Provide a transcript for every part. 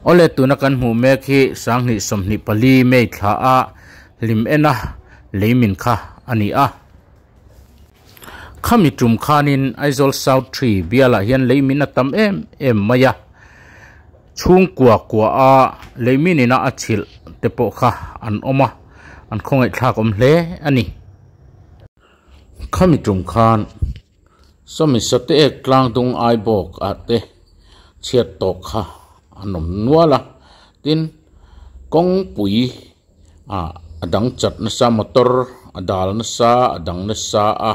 Awle tuna kan hmuh mek hi Sanghnih sawmhnih pali May thla a hlim ena lei min kha a ni a. Khami tum khanin Aizawl South Three bialah hian lei min a tam em em mai a, chhungkua kua a lei min ina a chhilh te pawh kha an awm a, an khawngaih thlak awm hle a ni. Khami tum khan sawmi sa te ek tlang tung ai bawk ah te chhiat tawk kha an awm nual a, tin kawngpui ah a dang chat nasa, motor a dal nasa, a dang nasa a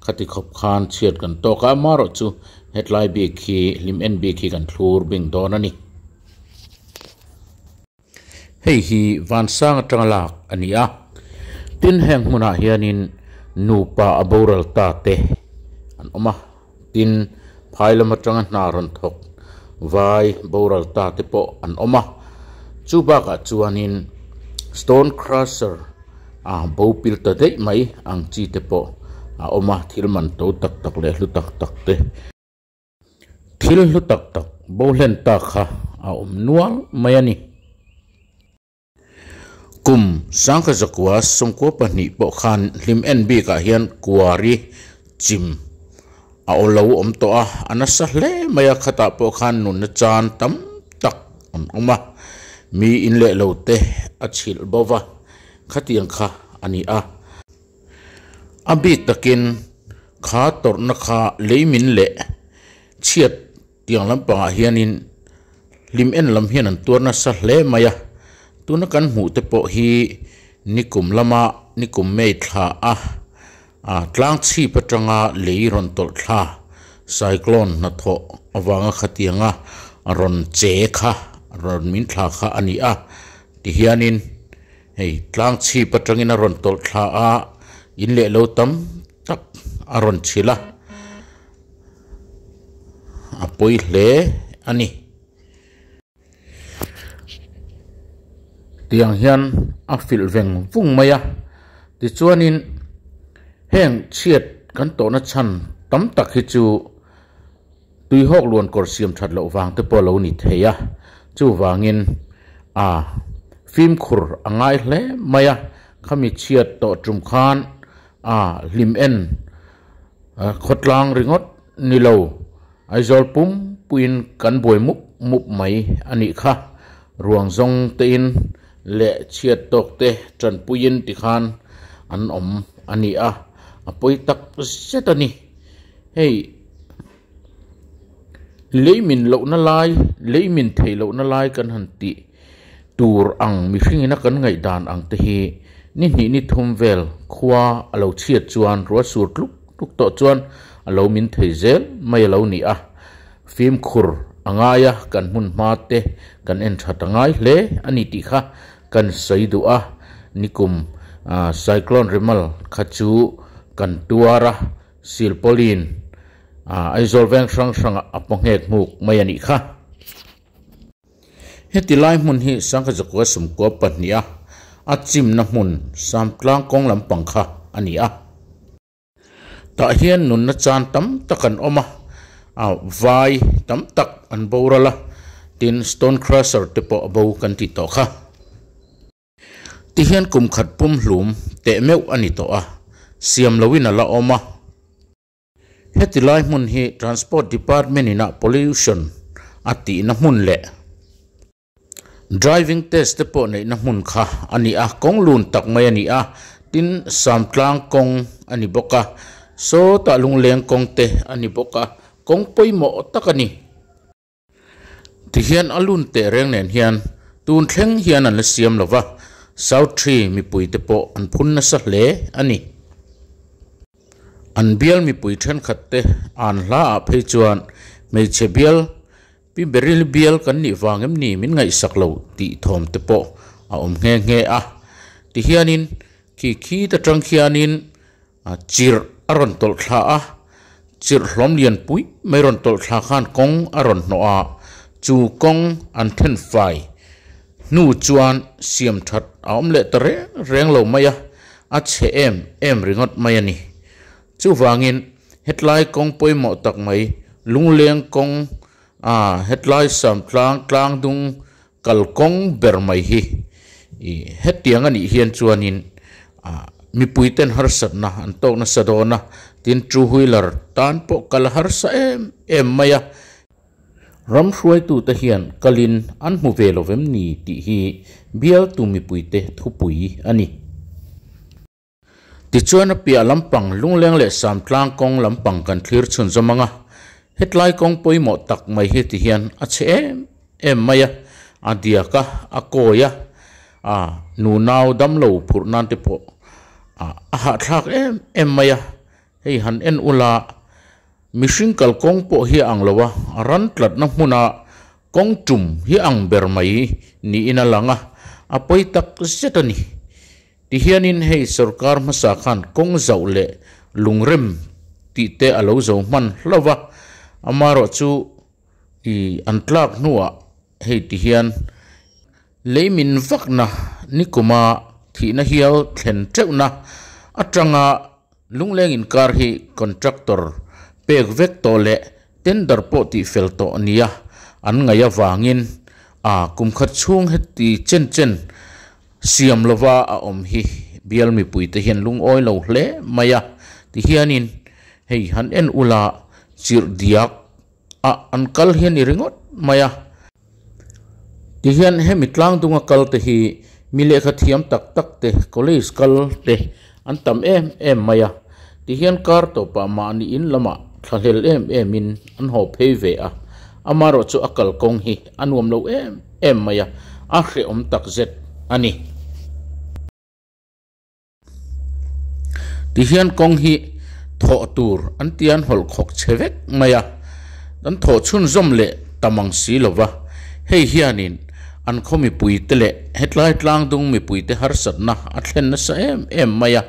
khati khawp khan chhiat kan tawk a, mah rawh chu hetlai bik hi hlim en bik hi kan thlur bing dawn a ni. Hei hi vansang atanga lak a ni a, tin heng hmunah hianin nupa a boral ta te an awm a, tin phai lam atanga hna rawn thawk vai boral ta te pawh an awm a, chu bakah chuanin stone crusher a bopil ta daih mai ang chi te pawh a awm a, thil man to tak tak leh hlu tak tak te. Thil hlu tak tak bohlen tak kha a awm nual mai a ni. Kum sangkha zakua sawmkua pahnih pawh khan hlim en bik ah hian kuari chim a aw lo awm tawh a, a nasa hle mai a, khatah pawh khan nunna chan tam tak an awm a, mi in leh lo te a chhilh bova khatiang kha a ni a. A bik takin kha tawrhna kha lei min leh chhiat tiang lampangah hianin hlim en lam hian an tuar nasa hle mai a. Tuna kan hmuh te pawh hi nikum lama nikum mei thla a ah tlang chhip atanga lei rawn tawlh thla cyclone hnathawh avanga khatianga rawn che kha rawn min thla kha a ni a tihianin-- Hei tlang chhip atangin a rawn tawlh thla a, in leh lo tam tak a rawn chhilh a, a pawi hle a ni. Tiang hian a filh veng vung mai a, tichuanin heng chhiat kan tawhna chhan tam tak hi chu, Tuihawk luan kawr siam that loh vang te pawh lo ni thei a, chuvangin a fimkhur a ngai hle mai a, khami chhiat tawh tum khan a hlim en a khawtlang ringawt ni lo, Aizawl pumpuiin kan buai mup mup mai a nih kha, ruang zawng tein leh chhiat tawk te tanpuiin ti khan an awm a ni a, a pawi tak zet a ni. Hei! lei min lohna lai lei min thei lohna lai kan han tih tur ang mihring ina kan ngaih dan ang te hi ni hnih ni thum vel khua a lo chhiat chuan rual sur tluk tluk tawh chuan a lo min thei zel mai a lo ni a fimkhur a ngai a kan hmun hma te kan en tha ta ngai hle a ni tih kha kan sawi duh a nikum cyclone rimal kha chu kan tuar a. Sir Pauline, Aah, Aizawl veng hrang hrangah a paw nghek hmuk mai a nih kha. Heti lai hmun hi Sangha Zakua Sumkua pahniha a chimna hmun Samtlang kawng lampang kha a ni a. Tah hian nunna chan tam tak an awm a, aah, vai tam tak an boral a, tin Stonecrusher te pawh a bo kan tih tawh kha. Ti hian kum khat pum hlum teh meuh a ni tawh a, siam loin a la awm a. Heti lai hmun hi Transport Department in ah Pollution a tihna hmun leh Driving Test te pawh neihna hmun kha a ni a, kawng lun tak mai a ni a, tin Samtlang kawng a ni bawk a, sawtah Lungleng kawng te a ni bawk a, kawng pawimawh tak a ni. Tihian a lun teh reng nen hian tun thleng hian an la siam lo va, South Tri mipui te pawh an phun nasa hle a ni. An bial mipui thenkhat te an hla ah phei chuan hmeichhe bial, Pi Beryl bial kan nih vang em ni min ngaihsak lo tih thawm te pawh a awm nghe nghe a. Tihian in khi khi ta tang khian in A chirh a rawn tawlh thla a, chirh hlawm lian pui mai rawn tawlh thla khan kawng a rawn hnawh a, chu kawng an then fai hnu chuan siam that a awm leh ta reng reng lo mai a, a chhe em em ringawt mai a ni. Chuvangin hetlai kawng pawimawh tak mai, lungleng kawng a hetlai samtlang tlangdung Kal kawng ber mai hi i hetiang a nih hian chuanin mipuiten harsatna an tawk nasa dawn a, tin two wheeler tan pawh kal harsa em em mai a. Ram hruaitute hian kalin an hmu ve lovem ni tih hi bialtu mipuite thupui a ni. Tichuan a piah lampang Lungleng leh Samtlang kawng lampang kan thlir chhun zawm ang a, hetlai kawng pawimawh tak mai hi ti hian a chhe em em mai a, a diak a, a kawi a, a nu nau damlo phurh nan te pawh a a hahthlak em em mai a, hei han en ula mihring kal kawng pawh hi a ang lo a, a ran tlatna hmuna kawng tum hi a ang ber mai niin a lang a, a pawi tak zet a ni. Tihianin hei sorkar hmasa khan kawng zauh leh lungrem tih te a lo zo hman hlauh a, amarawh chu i an tlak hnuah hei ti hian lei min vakna nikuma thihna hial thlen teuhna atanga, Lungleng inkar hi contractor pek vek tawh leh tender pawh tih fel tawh a nia, an ngaih avangin a kum khat chhung heti chen chen siam lova a awm hi bial mipuite hian lungawi lo hle mai a tihianin hei han en ula chirh diak A an kal hi a ni ringawt mai a. Tihian hemi tlangdunga kalte hi mi lehkha thiam tak tak te, college kal te an tam em em mai a. Tihian kar tawh pah mah niin lamah thlahlel em em in an haw phei ve a. Ama rawh chu a kal kawng hi a nuam lo em em mai a, a hrehawm tak zet a ni. Tihian kawng hi thawh tur an ti an hawlh khawk che vek mai a, kan thawh chhunzawm leh tam ang si lo va, hei hianin an khaw mipuite leh hetlai tlangdung mipuite harsatna a thlen nasa em em mai a,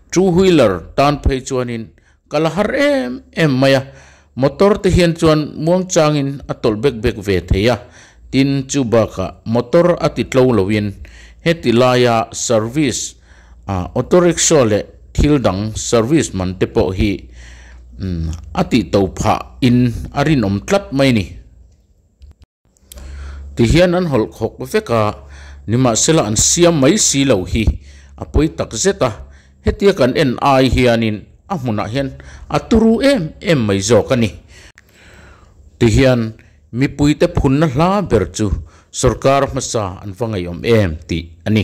two wheeler tan phei chuanin Ka la har em em mai a, motor te hian chuan muangchangin a tawlh bek bek ve thei a, tin chu bakah motor a ti tlo loin heti laia service a auto rickshaw leh thil dang service man te pawh hi a tih to phah in a rinawm tlat mai ni. Tihian an hawlh khawk vek a, nimahsela an siam mai si lo hi a pawi tak zet a, hetia kan en ai hianin a hmunah hian a turu em em mai zawk a ni. Tihian mipuite phunna hla ber chu sorkar hmasa an va ngaiawm em tih a ni.